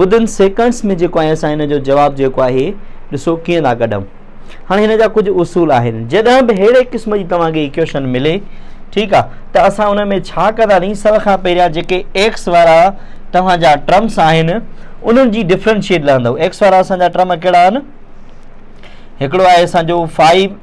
ودن seconds ۾ جيڪو آهي اسان هن جو جواب جيڪو آهي ڏسو ڪيئن ٿا ڪڍون هاڻي هن جا ڪجهه اصول آهن جڏهن به ههڙي قسم جي توهان کي ايڪويشن ملي ٺيڪ آ ته اسان ان ۾ ڇا ڪنداسين سڀ کان پهريان جيڪي ايڪس وارا توهان جا ٽرمس آهن انهن جي ڊفرنشيٽ لهندو ايڪس وارا اسان جا ٽرم ڪهڙا آهن هڪڙو آهي اسان جو فائيو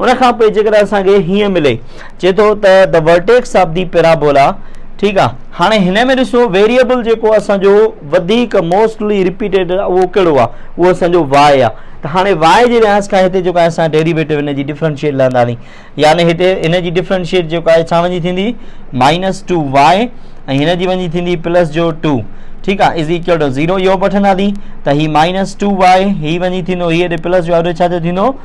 ان کان پوء جيڪڏهن اسان کي هيئن ملي چئي ٿو ته the vertex of the parabola ٺيڪ آ هاڻي هن ۾ ڏسو ويريبل جيڪو اسان جو وڌيڪ موسٽلي ريپيٽيڊ اهو ڪهڙو آ اهو اسان جو واء آ ته هاڻي واء جي لحاظ کان هتي جيڪو اسان ڊيريويٽو هن جي ڊفرنشيٽ لهنداسين يعني هتي هن جي ڊفرنشيٽ جيڪو آهي ڇا وڃي ٿيندي مائنس ٽو واء ۽ هن جي وڃي ٿيندي پلس جو ٽو ٺيڪ آ از ايڪول ٽو زيرو اهو به وٺنداسين ته هي مائنس ٽو واء هي وڃي ٿيندو هي هيڏي پلس جو هيڏي ڇا جو ٿيندو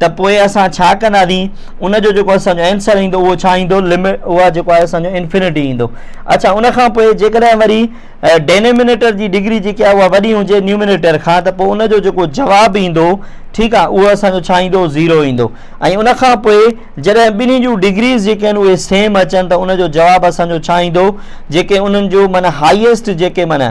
ته پوء اسان ڇا ڪنداسين؟ ان جو جيڪو اسان جو آنسر ايندو اهو ڇا ايندو؟ لمٽ اها جيڪو آهي اسان جو انفنٽي ايندو. اڇا ان کان پوء جيڪڏهن وري ڊينومينيٽر جي ڊگري جيڪي آهي اها وڏي هجي نيومينيٽر کان ته پوء ان جو جيڪو جواب ايندو ٺيڪ آهي اهو اسان جو ڇا ايندو؟ زيرو ايندو. ۽ ان کان پوء جڏهن ٻنهي جون ڊگريز جيڪي آهن اهي سيم اچن ته ان جو جواب اسان جو ڇا ايندو؟ جيڪي انهن جو معنيٰ هائيسٽ جيڪي معنيٰ